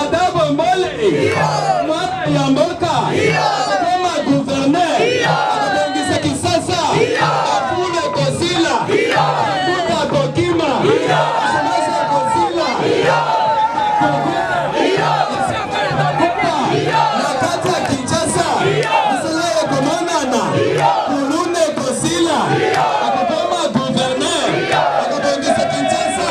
Ada Bombole mwana ya mboka akoma gouverneur akobongisa Kisasa afule kosila akuta kokima semasa kosila na kati ya Kinshasa misala ya komonana kuluna ekosila akokoma gouverneur akobongisa Kinshasa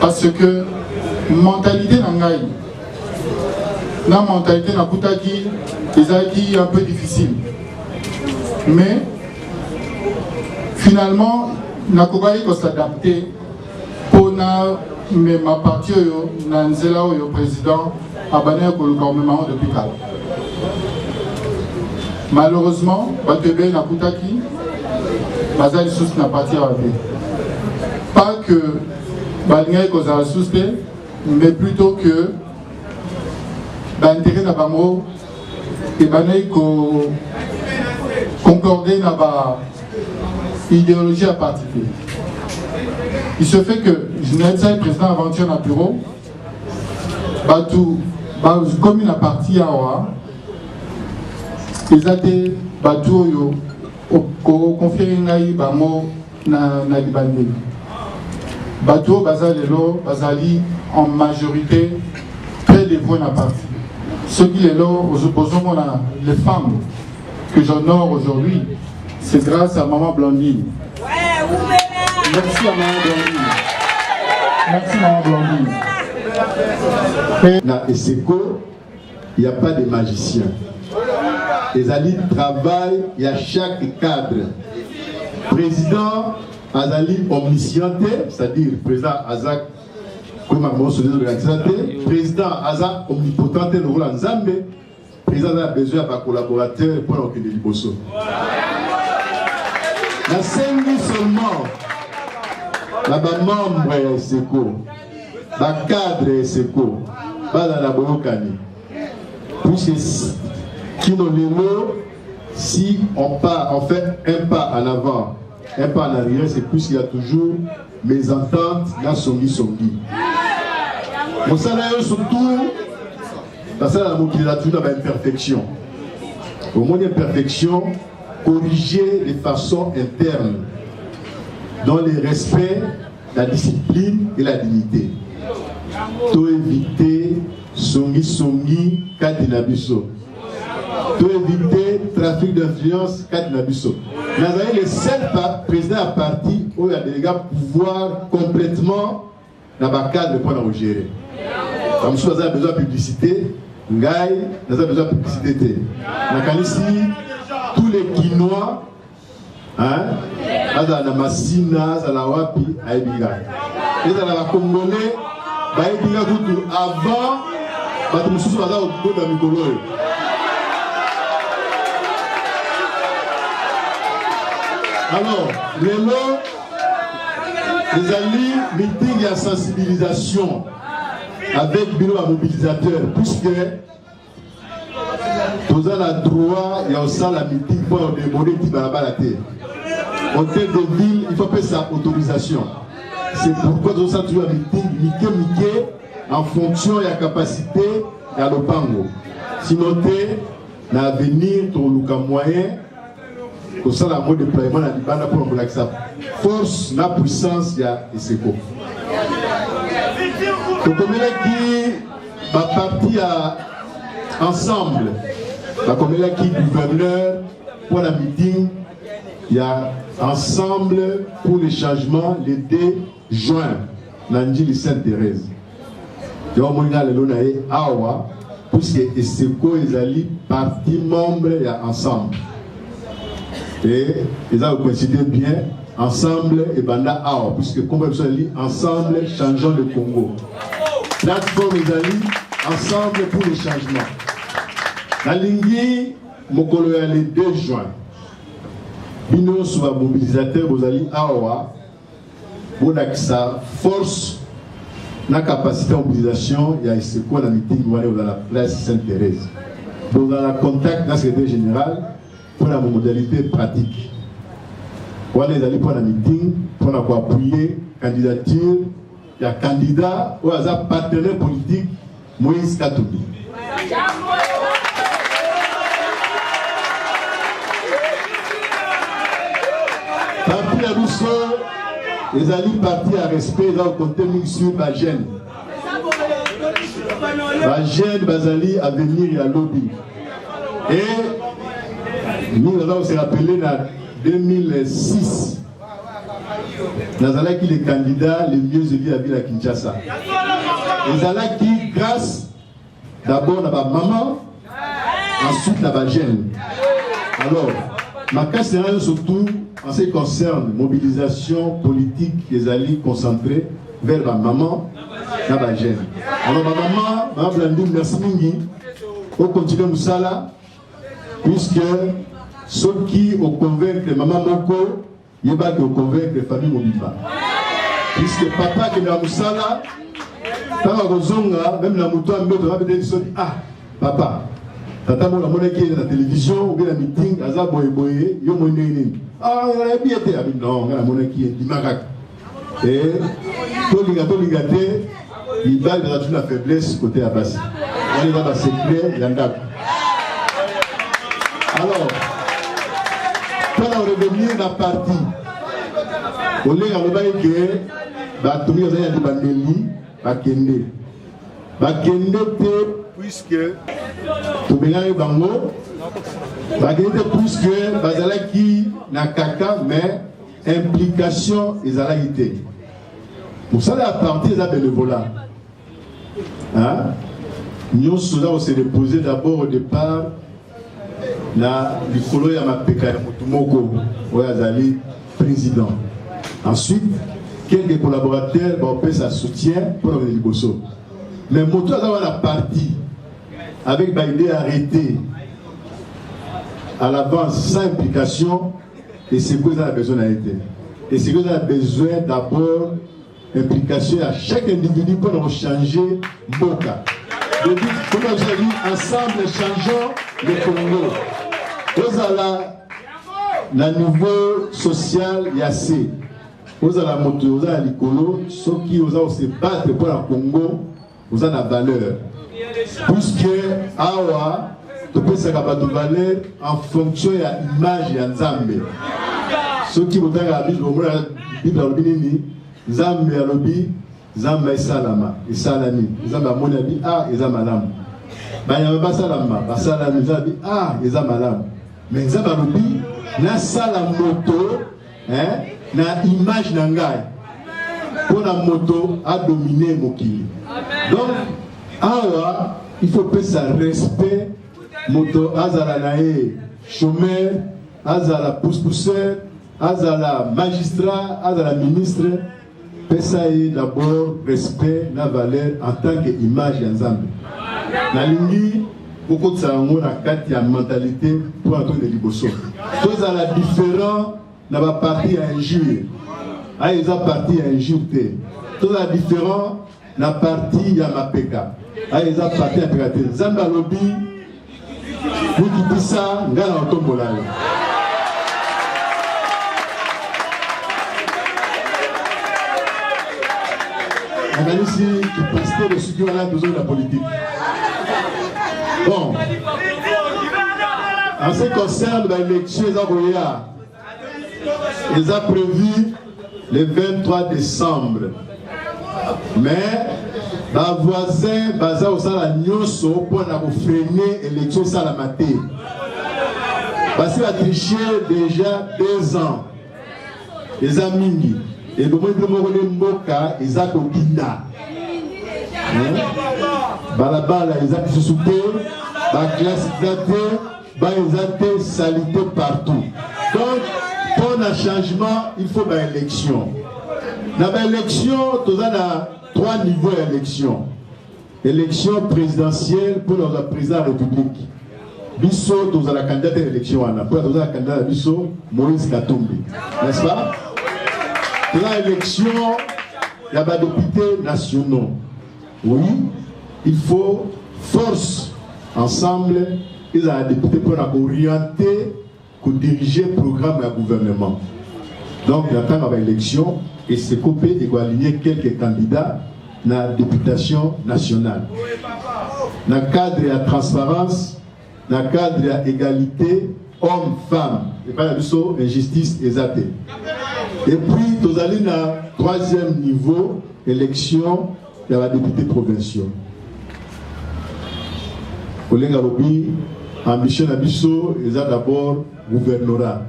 parce que mentalité na ngai na mentalité nakutaki ezalaki un peu difficile mais finalement nakokaki kosadapte mpo na mema parti oyo na nzela oyo président Abana ya koluka omema yango depuis kala. Malheureusement, bato ebele nakutaki baza lisusu na parti awa te. Pas que balingaki kozala lisusu te, mais plutôt que baintérêt na bango ebandaki ko concorder na ba idéologie ya parti te. Il se fait que je n'ai pas président aventure na bureau bato bakomi na parti awa eza te bato oyo kokonfiere ngai bango na, na libandeli bato oyo baza lelo bazali en majorité très dévoué na parti soki lelo bozomona les femmes que j'honore aujourd'hui, c'est grâce à Maman Blandine. Merci à Maman Blandine. Merci Maman Blandine. Et... Na Eseko, il n'y a pas de magicien. ezali travail ya chaque cadre président azali omniscient te c'est-à-dire président aza koma moso nde ezolakisa te président aza omnipotent te lokola nzambe President aza na besoin ya ba collaborateurs mpo na kokende liboso. Nasengi seulement na ba membres ya ESECO, ba cadres ya ESECO bazala na boyokani puisque kino lelo si on part, on fait un pas en avant, un pas en arrière, c'est plus qu'il y a toujours mes ententes, la songi songi. Mon salaire surtout nasala na mokili na tuna ba imperfection omoni imperfection corriger de façon interne dans le respect la discipline et la dignité to éviter songi songi kati na biso to éviter trafic d'influence kati na biso nazali le seul président ya parti oyo adelega pouvoir complètement na ba cadre mpo na kogere bamosusu baza na besoin ya publicité ngai naza besoin ya publicité te nakanisi tous les kinois azala na masina azala wapi ayebi ngai ezala bacongolais bayebi ngai kutu avant bato mosusu baza kokoda mikolo oyo alors lelo ezali meeting ya sensibilisation avec bino ba mobilisateur puisque toza na droit ya kosala meeting mpo ya odemone ti balabala te hôtel de ville il faut apesa autorisation c'est pourquoi tozosala toujours ya meeting mike mike en fonction ya capacité ya lopango sino te na avenir toluka moyen kosala yango deploiement na libanda mpo na kolakisa force na puissance ya eseko tokomelaki baparti ya ensemble bakomelaki gouverneur mpo na meeting ya ensemble pour le changement le 2 juin na njili sainte therese yo omoni nga lelo na ye awa puisque eseko ezali parti membre ya ensemble e eza kocoincide bien ensemble ebanda awa puisque nkombo ya biso ezali ensemble changeant le congo plateforme ezali ensemble pour le changement nalingi mokolo ya le 2 juin bino nyonso bamobilisateur bozali awa bolakisa force na capacité ya mobilisation ya eseko na mitingi wana ekozala place sainte thérèse bozala contact na secrétaire général mpo na modalité pratique wana ezali mpo na mitingi mpo na koapuye candidature ya candidat oyo aza partenaire politique Moïse Katumbi. Parti na biso ezali parti ya respect eza kokonte mingi sur bagene bagene bazali avenir ya lobi e mingi aza kose rappele na 2006 nazalaki le candidat le mieux élu ya ville ya kinshasa ezalaki grâce d'abord na bamama ensuite na bajeune alors makasi na yo surtout en ce qui concerne mobilisation politique ezali concentré vers bamama na bajeune alors bamama bamablandou merci mingi okontinue mosala Puisque soki o convaincre mama moko, yeba que o convaincre famille mobimba. Puisque papa akende na mosala, ntango akozonga meme na moto ya mbeto na bete soni ah papa tata moko namonaki ye na télévision ou bien na meeting aza boye boye yo moi ndenge nini ah nayebi ye te abi non ngai namonaki ye ndima kaka Eh, tolinga tolinga te mibali baza tuna faiblesse kote ya basi wana eza basecret ya ndako alors mpona revenir na parti olenga alobaki ke bato oyo bazali ya libandeli bakende bakende te puiske tobengaki bango bakende te puiske bazalaki na kaka mais implication ezalaki te mosala ya parti eza benevola nyonso oza kose repose d'abord au départ na likolo ya mapeka ya motu moko oyo azali président ensuite quelques collaborateurs baopesa soutien mpo na kende liboso mais motu aza wana parti avec baide arrêté à l'avance sans implication Esiko eza na besoin na ye te. Esiko eza na besoin d'abord implication ya chaque individu mpo na kochanger mboka. Comme je l'ai dit, ensemble changeons le Congo. Ozala na niveau social ya se ozala moto oza ya likolo soki oza kose battre mpo na Congo oza na valeur puisque awa topesaka bato valeur en fonction ya image ya nzambe soki botanga bible omona bible alobi nini nzambe alobi nzambe esalama esalami nzambe amoni abi a ah, eza malamu banyama basalama basalami nzambe abi a ah, eza malamu me nzambe alobi nasala moto eh, na image na ngai mpo na moto adomine mokili donc awa il faut pesa respect moto azala na ye chômeur azala pousse-pousseur azala magistrat azala ministre Pesa ye d'abord respect na valeur en tant que image ya Nzambe. Nalingi kokotisa yango na kati ya mentalité mpo na tokende liboso. Tozala différent na ba parti ya injure. Ayo eza parti ya injure te. Tozala différent na parti ya mapeka ayo eza parti ya peka te nzambe alobi mikitisa ngai na otombola yo nakanisi kipasite losuki wana tozoi na politike bon en ce concerne baélection eza koya eza prévu le 23 décembre mais bavoisin baza kosala nyonso mpo na kofrene élection esalama te basi batriche déjà deux ans eza mingi ebomoi bino moko nde mboka eza kobinda balabala eza lisusu te baklase eza te ba eza te salite partout donc mpo na changement il faut baélection na baélection toza na trois niveau ya élection élection présidentielle mpo na kozala président ya république biso tozala candidat ya élection wana mpo tozala candidat ya biso moïse katumbi n'est-ce pas toza élection ya badepute nationaux Oui, il faut force ensemble ezala depute mpo na kooriente kodirige programme ya gouvernement donc na ntango ya baélection eseko mpe ekoaligne quelques candidats na députation nationale na cadre ya transparence na cadre ya egalite homme femme epai na biso injustice eza te et puis tozali na troisième niveau élection ya badepute provinciaux kolenga lobi ambition na biso eza d'abord gouvernorat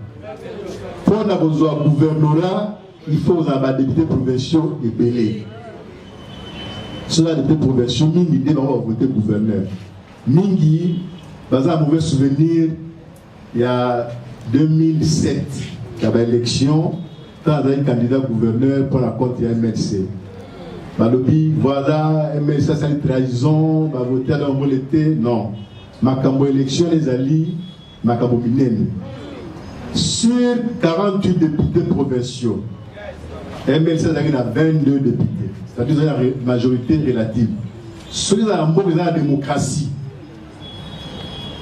mpo na kozwa gouvernorat il faut kozala badepute provinciaux ebele soki badepute provinciaux mingi nde bango bakote gouverneur Mingi baza na mauvais souvenir ya 2007 ya baélection ntango azali candidat gouverneur mpo na compte ya mlc balobi voilà mlc asali trahison bavote ata bambole te non makambo élection ezali Makambo minene sur 48 députés provinciaux MLC azalaki na 22 députés c'est-à-dire eza ya majorité relative soki ezala mboka eza ya démocratie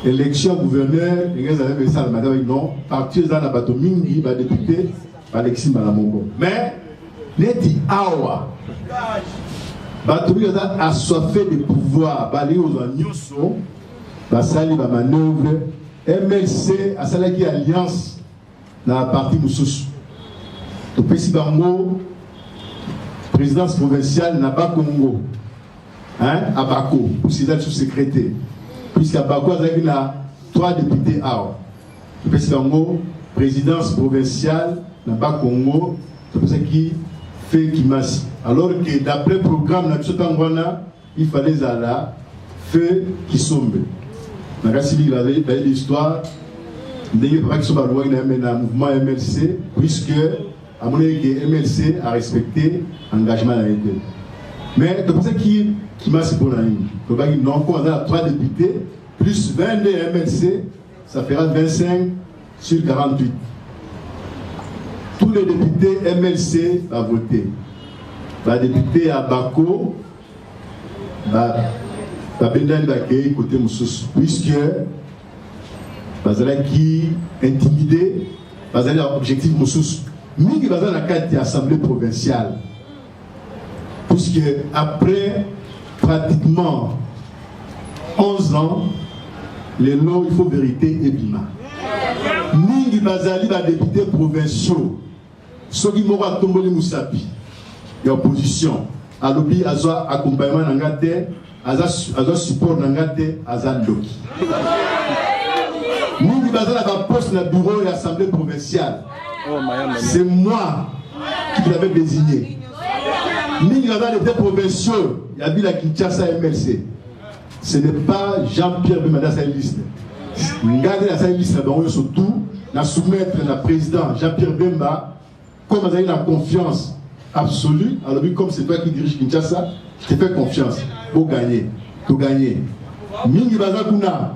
élection gouverneur ndenge ezala mpe esalama eza baki non parti eza na bato mingi badepute balekisi mbala moko mais neti awa bato mingi baza assoiffé de pouvoir balingi kozwa nyonso basali ba manœuvre mlc asalaki alliance na parti mosusu topesi bango présidence provinciale na bakongo hein, abako osida sous secrétaire puisque abako azalaki na trois députés awa topesi bango présidence provinciale na bakongo topesaki fe kimasi alors que d'après programme na biso ntango wana Il fallait ezala feu kisombe nakasi liki bayebi histoire ndenge papa kisombe alobaki na yame na mouvement ya mlc puisque amonaki ke mlc arespecte engagement na ye te mais topesaki kimasi mpo na nini tobaki non mpo aza na 3 député plus 22 ya mlc ça fera 25 Sur 48, tous les députés MLC ba voté. Ba députés ya Bako ba babendani bakei kote mosusu puisque bazalaki intimide bazali na objectif mosusu mingi baza na kati ya assemblée provinciale Puisque après pratiquement 11 ans, les lois, il faut vérité et bima. Mingi bazali ba députés provinciaux. Soki moko atomboli musapi ya opposition alobi azwa accompagnement na nga te aza aza support na nga te aza ndoki mingi baza na baposte na bureau ya assemblée provinciale oh, c'est moi qui l'avais désigné mingi baza lete provinciaux ya bila kinshasa mlc ce n'est pas jean-pierre bemada asali liste nga nde nasali liste na bango nyonso tout na soumettre na président jean-pierre bemba Comme azali na confiance absolue, alobi comme c'est toi qui dirige Kinshasa, je te fais confiance. Bo gagner, to gagner. Mingi baza kuna.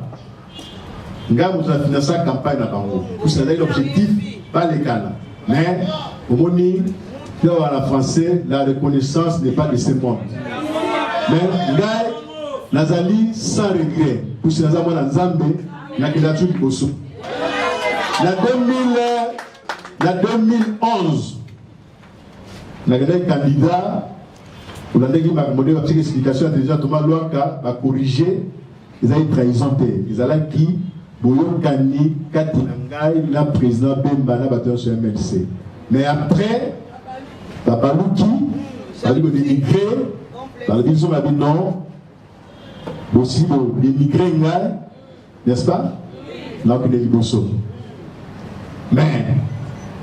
Ngai moto na finança campagne na bango. Kusa ezali l'objectif balekana. Mais omoni mpe wana français la reconnaissance n'est pas de ce monde. Mais ngai nazali sans regret pusi naza mwana nzambe nakenda tu liboso na 2000 Ya 2011 nakendaki candidat olandaki makambo nde batika explication ya president toma lwaka bakorige ezalaki trahison te ezalaki boyokani kati na ngai na président bemba na bato nyonso ya mlc mais après babaluki bazali kodemigre balobi biso babi non bosi bodemigre ngai n'est ce pas na kende liboso mais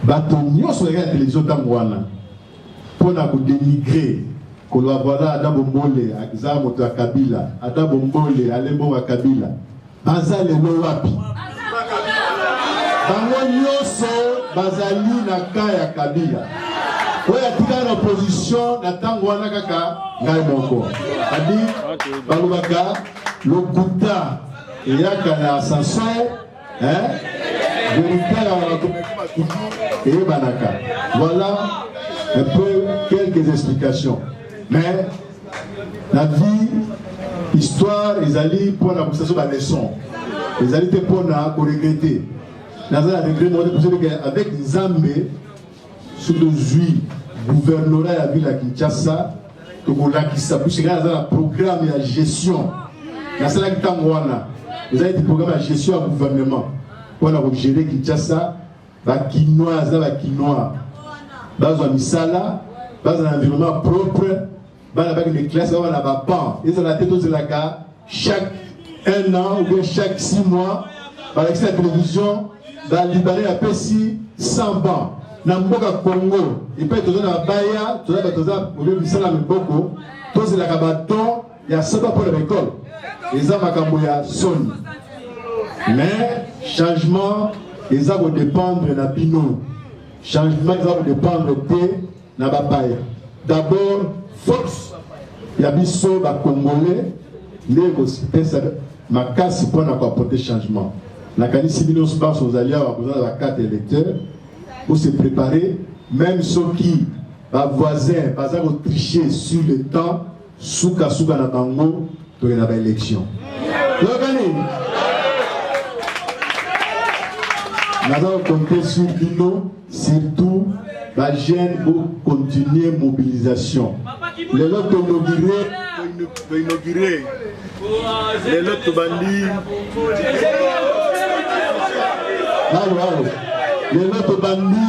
bato nyonso yaka ya télévision ntango wana mpo na kodenigre koloba voilà ada bombole aza moto ya kabila ada bombole alembonga kabila baza lelo wapi bango nyonso bazali na ka ya kabila oyo atikala na opposition na ntango wana kaka ngai moko adi balobaka lokuta eyaka na ascenseur hein verité ya bato eyebanaka voilà un peu quelques explications mais la vie histoire ezali mpo na kosaso baleçon ezali te mpo na koregrete naza na regret moko te avec nzambe soki tozwi guvernora ya ville ya kinshasa tokolakisa puisque ngai naza na programme ya gestion nasalaki ntango wana eza ete programme ya gestion ya gouvernement mpo na kogere kinshasa bakinois na bakinois bazwa misala bazala na environnement propre bana bakende classe bana baban ezala te tozelaka chaque un an ou bien chaque six mois balakisi na télévision balibanais apesi 100 ban na mboka congo epai toza na baya toza bato oza obe misala ya miboko tozelaka badon ya saba mpo na baekole eza makambo ya soni mais changement eza kodépendre na bino changement eza kodépendre te na bapaya d'abord force ya biso bacongolais nde ekopesa makasi mpo na koaporte changement nakanisi bino nyonso banso ozali awa koza na bacarte électeur ose prépare même soki bavoisin baza kotriche sur le temps Suka suka na bango toye na ba election. Yokani. Naza compter sur bino surtout ba jeunes pour continuer mobilisation. Lelo to inauguré to inauguré. Lelo to bandi. Halo halo. Lelo to bandi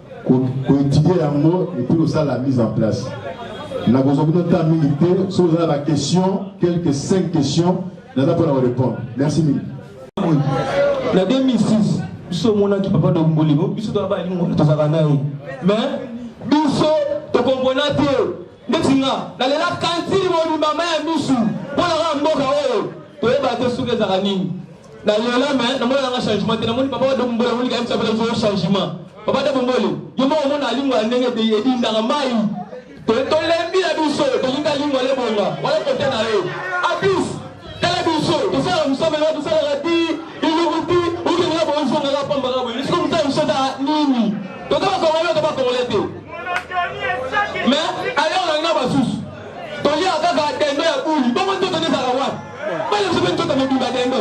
koetudie yango epuis kosala mise en place nakozwa bino ntan mingi te soki oza na baquestion quelques 5 questions naza mpo na korépondre merci mingi na 2006 biso omonaki papa domboli biso toza balingola tozalaka na ye mais biso tokompona te ndeti nga nalela kantini mobimba ma ya misu mpo na kaka mboka oyo toyebaka te soki ezalaka nini Na lela mais na mona nga changement te na moni papa de bombola moni kaim sabela zo changement. Papa de bombole yo moko mona alingo ndenge te edi ndanga mai. To to lembi la biso to linga lingo le bonga wala kote na yo. Abis tala biso to sala musome na to sala rati ilukuti uke na bo nzonga la pamba ka bo. Nisko mutsa biso da nini. To to ba ko wala to ba ko wala te. Mais alors na basusu. To ya kaka tendo ya buli. Bongo to tende sala wapi? bana biso mpe nzoto mobimba dendo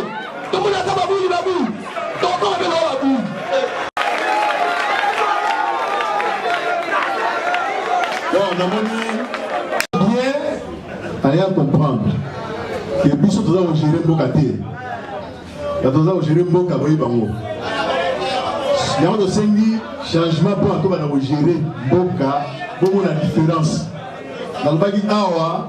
tomonaka babuli babuli tokokoma mpe lokola babuli bon namoni bien aya comprendre ke biso toza kogere mboka te bato toza kogere mboka boye bango yango tosengi changement mpo atobana kogere mboka bomona différence nalobaki awa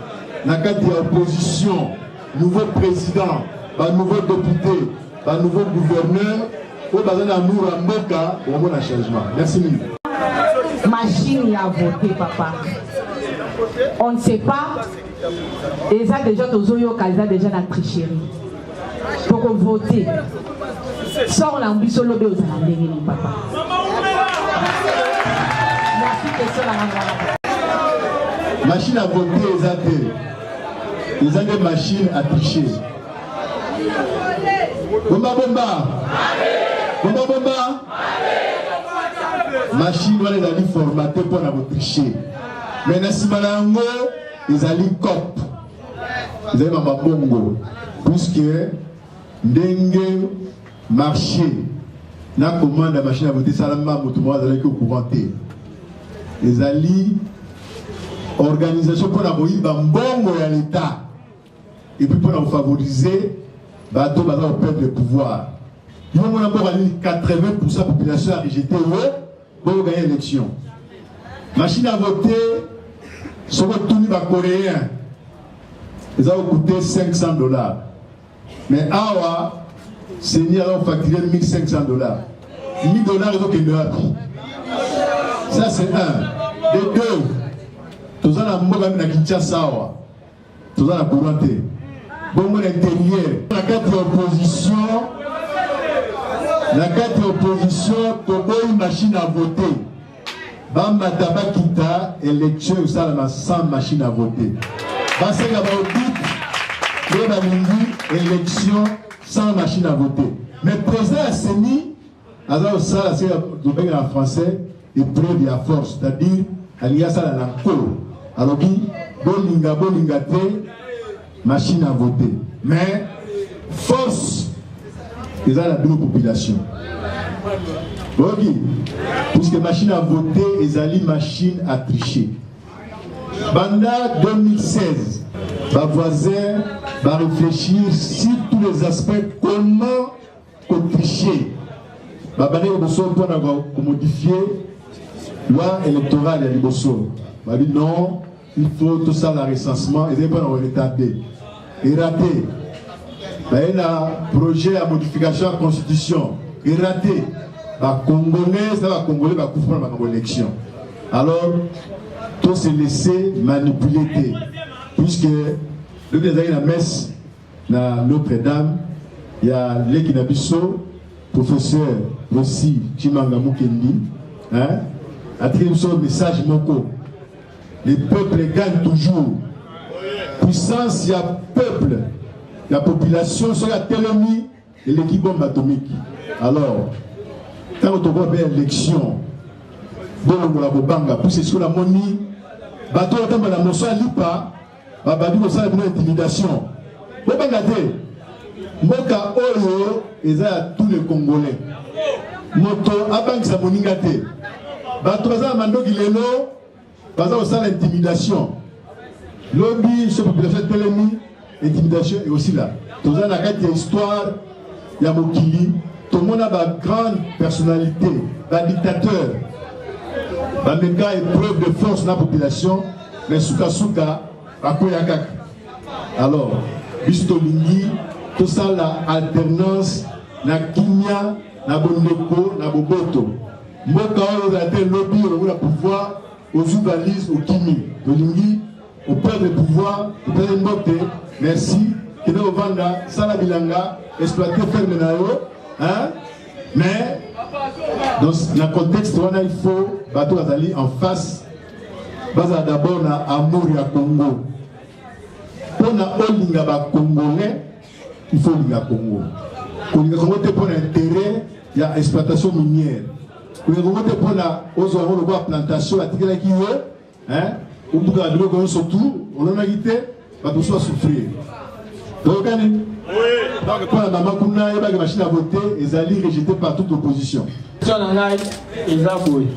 na kati ya opposition nouveau président ba nouveau député ba nouveau gouverneur oyo baza na amour ya mboka omona changement merci mingi machine ya vote papa on ne sait pas eza déjà tozoyoka eza déjà na tricherie toko vote sort na biso lobi ozala ndenge ni papa merci question na ngai machine à voter eza te eza nde machine à tricher bomba bomba bomba bomba machine wana ezali formate mpo na kotricher me na nsima na yango ezali cope ezali na mabongo puisque ndenge marché na commande ya machine ya vote esalama moto moko azalaki au courant te ezali organisation mpo na koyiba mbongo ya leta epuis mpo na kofavorize bato baza koperdre pouvoir yo mona mboka nini 80 pourcent population ya rejete yo Bo gagner élection. Machine à voter soki otuni ba coréen eza kokute 500 dollars mais awa seni aza kofacture 1500 dollars 1000 dollars ezokende wapi ça c'est un de deux toza na mboka mi na kinshasa awa toza na courant te bongo na interieur na kati ya opposition na kati ya opposition toboyi machine à voter bamata bakita election ekosalama sans machine à voter basenga baodit nde balingi election sans machine à voter mais président ya seni aza kosala se tobenge na français epreuve ya force c'est-à-dire alingi asala na nkolo alobi bolinga bolinga te machine à voter mais force eza na bino population oyoki puisque machine à voter ezali machine à tricher banda 2016 bavoisin barefléchir sur tous les aspects comment kotriche babandaki liboso mpo na komodifie loi électorale ya liboso babi non il faut tosala recensement ezali mpo na koretarde erate baye na projet ya modification ya constitution erate bacongolais na bacongolais bakufa mpo na makambo élection alors to se laisser manipuler te puisque lobi ezalaki na messe na Notre Dame ya leki na biso professeur Rosi Chimanga Mukendi hein atiki biso message moko les peuples gagnent toujours puissance ya peuple ya population soki atelemi eleki bombe atomiki alors ntango tokoba mpe élection bolongola kobanga pusi esiko namoni bato oyo atamba na moso ya lipa babandi kosala bino intimidation bobanga te mboka oyo eza ya tous les congolais moto abangisa moninga te bato baza na mandoki lelo baza kosala intimidation lobi so population etelemi intimidation ekosila toza na kati ya histoire ya mokili tomona ba grande personnalité ba dictateur bameka épreuve de force na population mais sukasuka bakwea kaka alors biso tolingi tosala alternance na kimia na bondeko na boboto mboka oyo ozala te lobi olokola pouvoir ozwi valise okimi tolingi Au père de pouvoir, topesi mbote, merci. Kende ovanda, sala bilanga, exploiter ferme na yo, hein? Mais dans le contexte wana il faut bato bazali en face bazala d'abord na amour ya Congo. Mpo na olinga ba Congolais, il faut olinga Congo. Kolinga Congo te mpo na intérêt ya exploitation minière. Kolinga Congo te mpo na ozwa yango lokola plantation atikelaki yo eh obuka biloko nyonso tu olonaki te bato mosusu basouffrir toyokani donc mpo na mama kuna ayebaki machine ya vote ezali rejete par toute opposition question na ngai eza boye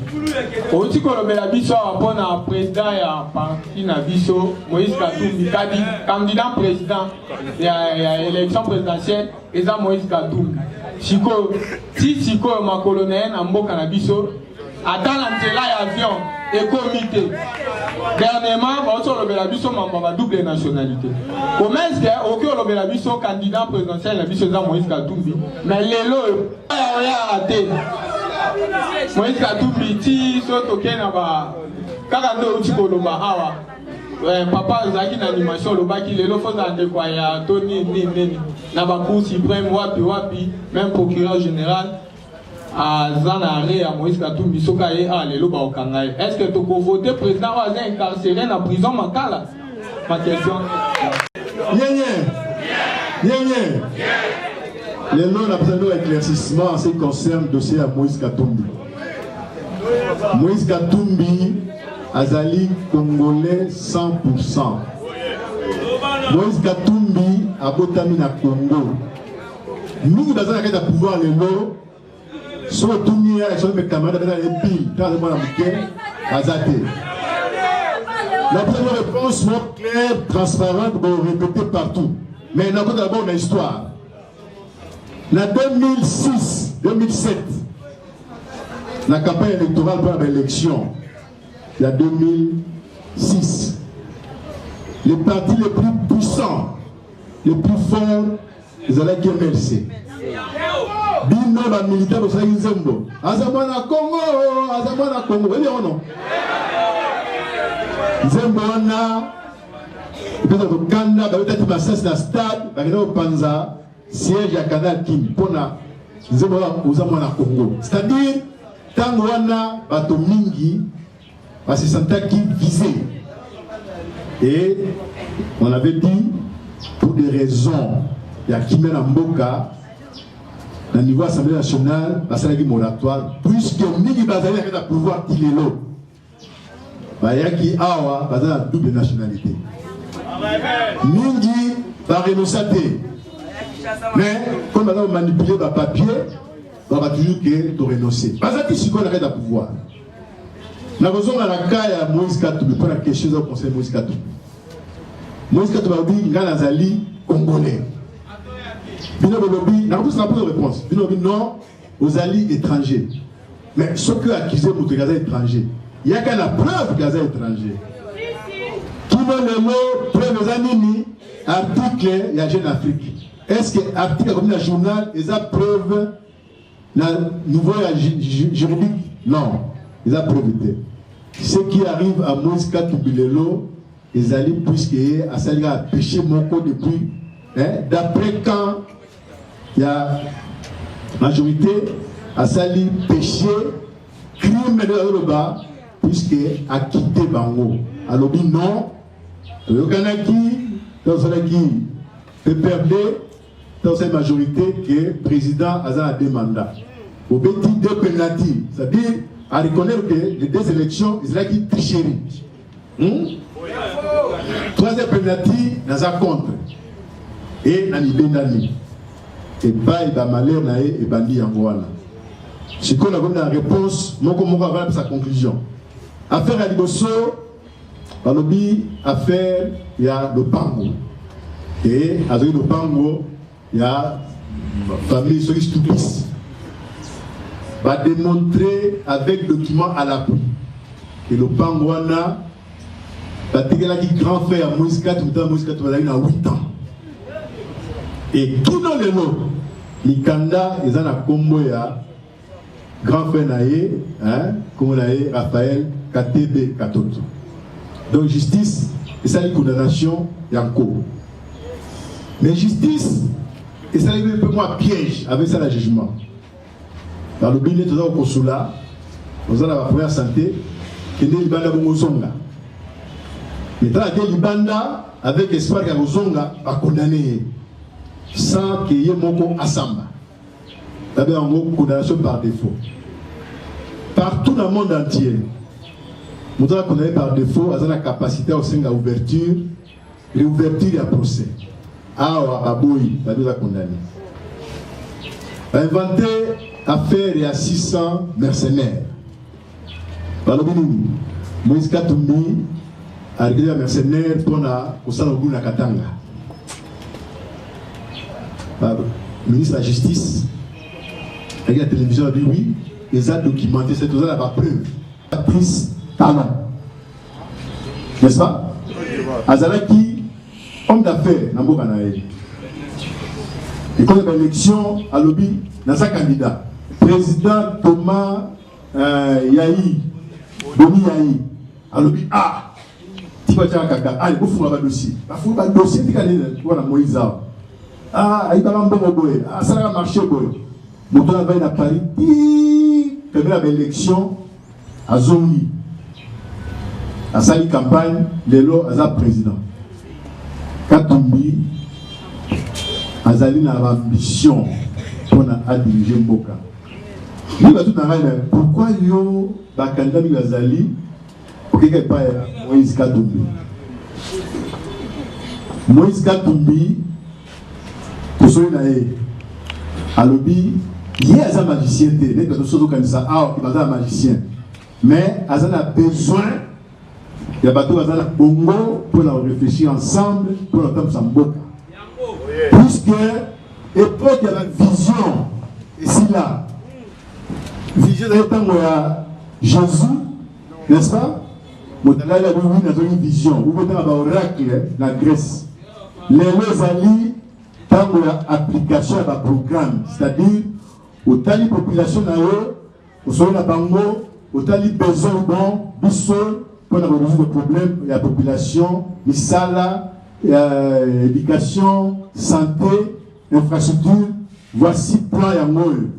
outi kolobela biso awa mpo na président ya parti na biso moïse katumbi kadi candidat président ya, ya élection présidentielle eza moïse katumbi sikoyo ti sikoyo makolo na ye na mboka na biso ata na nzela ya avion ekomi te dernièrement bauti olobela biso mambo ma double nationalité komeske okoki olobela biso candidat présidentiel na biso eza moïse katumbi mais lelo oyo oyaka te moïse katumbi ti so tokei na ba kaka nde outi koloba awa eh, papa ozalaki na animation olobaki lelo fozala ndeko ya to nini nini nini na bacour suprême wapi wapi même procureur général aza na arret ya moïse katumbi soki aye awa lelo bakokanga ye est ce que tokovote président oyo aza incarcere na prison makala ma question yenye yenye lelo na besoin de éclaircissement en ce qui concerne dossier ya moïse katumbi moïse katumbi azali congolais 100 moïse katumbi abotami na congo mingi baza na kati ya pouvoir lelo so otuni ye action me camarade abeta ye pile ntango aza mwana moke aza te la première réponse soit claire transparente borépété partout mais nakota dabord na histoire na 2006 2007 na campagne électorale mpo na baélection ya 2006 le parti le plus puissant le plus fort ezalaki mlc bino ba militaire bosalaki nzembo aza mwana kongo aza mwana kongo oyebi yango no nzembo wana epesa kokanda babetaki masasi na stade bakenda kopanza siège ya canal kin mpo na nzembo wana oza mwana kongo c'est-à-dire ntango wana bato mingi Ba se sentaki visé. Et on avait dit pour des raisons ya kimia na mboka na niveau assemblée nationale basalaki moratoire puisque mingi bazali na kati ya pouvoir ti lelo bayaki awa baza na double nationalité mingi barenosa te mais comme baza komanipule bapapier baba toujours ke torenonce baza ti sikoyo na kati ya pouvoir nakozonga na ka ya moïse katumbi mpo na question eza conseil moïse katumbi moïse katumbi alobi ngai nazali congolais bino bolobi nakopesana mpo réponse bino lobi non ozali étranger mais soki accuse moto eke aza étranger yaka na preuve ke aza étranger kino lelo preuve eza nini article ya jeune afrique est ce que article akomi na journal eza preuve na niveau ya juridique non eza preuve te ce qui arrive à moise katumbi lelo ezali puisque ye asali kaka péché moko depuis eh, d'après quand ya majorité asali péché crime nde azoloba puisque akite bango alobi non toyokanaki tosalaki pprd Dans une majorité que président aza à deux mandats. Au petit deux pénalty, c'est-à-dire à reconnaître que les deux élections, ils qui tricherie. Hmm? Troisième pénalty, naza contre. Et na libendani. Et bail ba malheur na et bandi yango wana. Sikoyo nakomi na réponse moko moko avalabisa conclusion affaire ya liboso balobi affaire ya lopango e azali lopango ya famille soki stupis bademontre avec document à l'appui ke lopango wana batekelaki grand frère ya moise kati motana moise kati bazali na 8 ans e kino lelo mikanda eza na nkombo ya grand frère na ye hein, kombo na ye Raphaël Katebe Katoto. Donc justice esali condamnation ya nko. Mais justice esali mpe mwa piège avec ça la jugement. Balobi nde toza kokosula oza na bapremière santé kende libanda bongo ozonga etala te libanda avec espoir ya kozonga bakondane ye sans ke ye moko asamba babenga yango condamnation par défaut partout na monde entier moto aza condamne par défaut aza na capacité ya kosenga ouverture réouverture ya procès awa baboyi babi oza condamne bainvente affaire ya 600 mercenaires balobi nini moise katumbi arekeli ya mercenaire mpo na kosala mobulu na katanga ministre ya justice ayaki ya télévision abi wi eza documenté se toza na bapreuve patrice talon n'est-ce pas azalaki homme d'affaires na mboka na ye ekomi baélection alobi naza candidat président thomas Eh, yayi bomi yayi alobi a ah, tiba tya kaka ale bofunga badossier bafunga badossier tika nini wana moïse awa ah, ayibaka mbongo boye asalaka marché boye moto oyo avai na paris ti pembela baélection azongi asali campagne lelo aza président katumbi azali na baambition mpo na adirige mboka Yo na tout ngai na pourquoi yo ba candidat mingi bazali okeka epai ya Moïse Katumbi Moïse Katumbi tosoli na ye alobi ye aza magicien te neti bato soki okanisa awa baza na magicien mais aza na besoin ya bato baza na bongo mpo na koreflechir ensemble mpo na kotambusa mboka puisque epoke ya bavision esila vision ezali ntango ya jésus n'est-ce pas moto alali yango wini azongi vision ukotanga baoracle na grèce lelo ezali ntango ya application ya baprogramme c'est-à-dire otali population na yo Ozali na bango otali besoin bon biso mpo na koresoudre problème ya population misala ya euh, éducation santé infrastructure voici plan yango oyo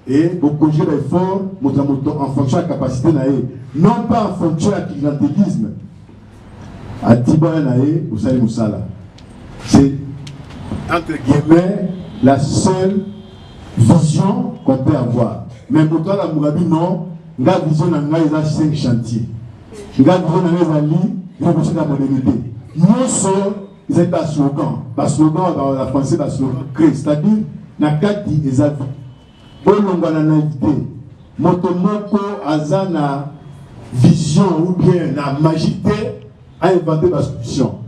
e bokoje baeffort moto na moto en fonction ya capacité na ye non pas en fonction ya clientelisme Atiba na ye osali musala. C'est entre guillemets la seule vision qu'on peut avoir. Mais moto alamuka bino nga vision na ngai eza 5 chantier. Nga vision na ngai ezali révolution ya modernité. Nyonso ezali ba slogan, ba slogan ba français ba slogan crée, c'est-à-dire na kati eza Bolongwa na naïvete. Moto moko aza na vision ou bien na magie te a inventer ba solutions.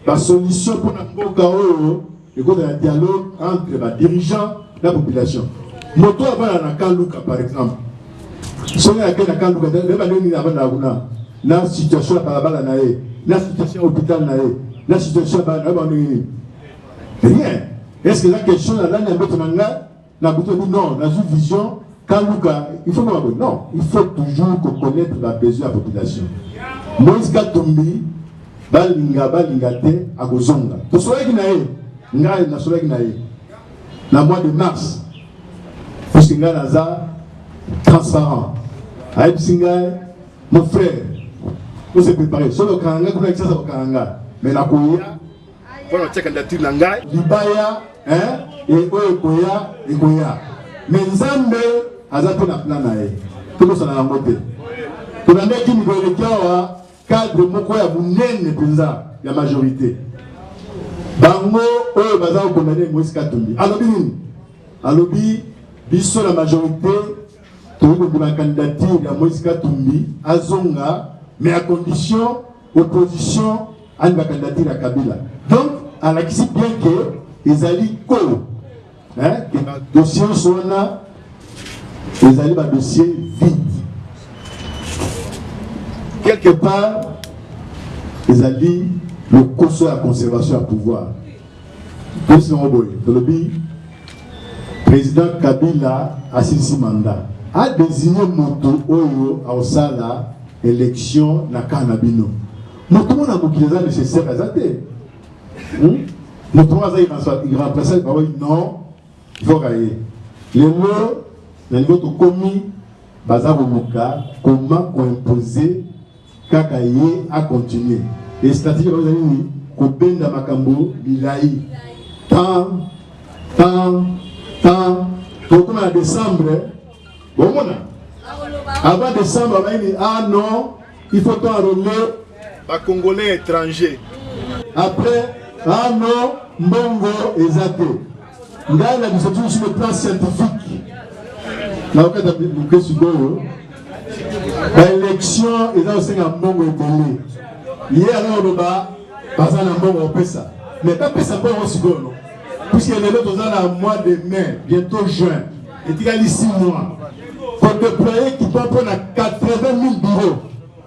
Ba solutions pour na mboka oyo ekozala na dialogue entre ba dirigeants na population. Moto avanda na Kaluka par exemple. Soki ake na Kaluka nde ba nini avanda kuna na situation ya balabala na ye, na situation ya hôpital na ye, na situation ya bana ba nini. Rien. Est-ce que la question ya nani amboto na ngai Na buto bi non, na zu vision Kaluka, il faut pas non, il faut toujours qu'on connaisse la besoin de la population. Moïse Katumbi, balinga balinga te akozonga. Tosolaki na ye, ngai nasolaki na ye na mois de mars puisque ngai naza transparent ayebisi ngai mon frère ose prépare soki okanga ngai kuna kisasa okanga ngai mais nakoya Voilà, on check la tune nangai. Libaya, hein, et oyo koya, et koya. Mais Nzambe, aza pe na plan na ye. Toko sana na ngote. Tona meki ni goye kiawa, cadre moko ya bunene penza, ya majorité. Bango, oyo baza ko condamner Moïse Katumbi. Alobi nini? Alobi, biso la majorité, toyokondima candidature ya Moïse Katumbi, azonga, mais à condition opposition ani ba candidature ya Kabila donc alakisi bien que ezali ko hein que ba dossiers wana ezali ba dossiers vide quelque part ezali lokoso ya conservation ya pouvoir Tosi yango boye tolobi president Kabila asilisi mandat a désigné moto oyo aosala élection na kaa na bino moto mona mokili eza nécessaire aza te hmm? moto moko aza irremplaçable baoyi oh, non ifoka ye lelo na niveau tokomi baza koluka koma koimpose Kaka ye a continuer. Et stratégie ba ezali nini? Kobenda makambo milayi. Tan, tan, tan. Tokoma na décembre. Bomona? Avant décembre, ba nini? Ah non, il faut to enrôler ba Congolais étrangers. Après, ah non, mbongo eza te. ngai na biso tusu le plan scientifique nakokata moke sikoyo baélection eza kosenga mbongo ebele ye aloloba baza na mbongo kopesa mais bapesa mbongo sikoyo no puisque lelo toza na mois de mai bientôt juin etikali 6 mois kodéploye kipa mpo na 80 000 bureau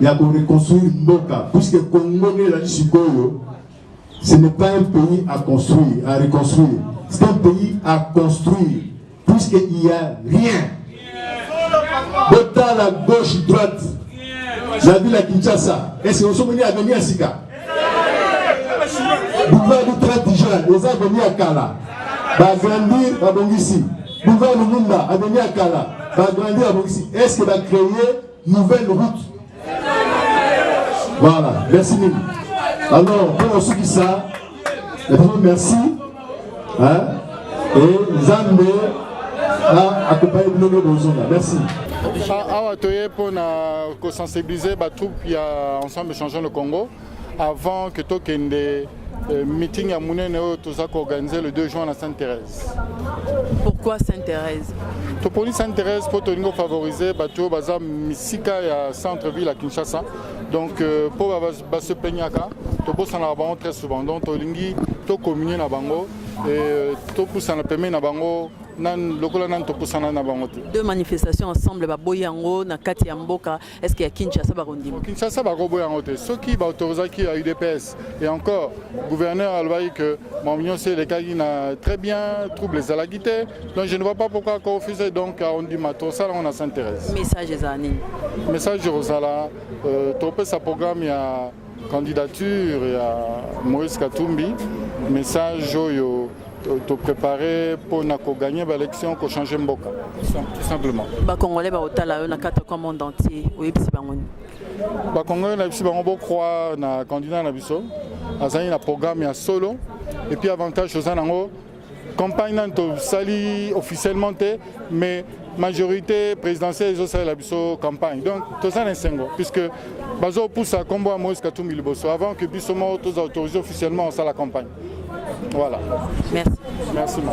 ya ko reconstruire mboka puisque Congo nde ezali sikoyo ce n'est pas un pays à construire à reconstruire c'est un pays à construire puisque il y a rien botala gauche droite na ville ya Kinshasa est ce que osomoni avenir ya sika boulevard du 30 juin eza avenir ya kala baagrandir babongisi boulevard lumumba avenir ya kala baagrandir babongisi est ce que bacreye nouvelle route voilà merci mingi alors mpo nasukisa natango merci hein? e nzambe akompaye bino nde bozonga merci awa toye mpo na kosensibilize batroupe ya ensemble changeant le congo avant que tokende euh, meeting à monene oyo toza organiser le 2 juin à sainte thérèse pourquoi sainte thérèse toponi sainte thérèse mpo tolingi favoriser bato oyo baza misika ya centre ville à kinshasa donc pour euh, mpo basepeignaka tobosanaka bango très souvent donc tolingi tocommunie na bango e, euh, topusana pembeni na bango lokola nani topusana na bango te deux manifestations ensemble baboyi yango na kati ya mboka est ce que ya kinshasa bakondima kinshasa bakoboya yango te soki baautorisaki ya udps et encore gouverneur alobaki que mamu nyonso elekaki na très bien trouble ezalaki te donc je ne vois pas pourquoi akorefuse donc ondima tosala yango na saint thérèse message ezala nini message ekozala euh, topesa programme ya Candidature ya Moïse Katumbi, message oyo to préparer pour na ko gagner ba élection ko changer mboka tout simplement ba congolais ba otala yo na carte comme monde entier oyebisi bango ni ba congolais na bisi bango bo croire na candidat na biso azali na programme ya solo et puis avantage oza nango Campagne nani tosali officiellement te mais majorité présidentielle ezosalela biso campagne donc toza na esengo puisque bazopusa nkombo ya moïse katumbi liboso avant que biso moko toza autorise officiellement osala campagne voilà merci merci ma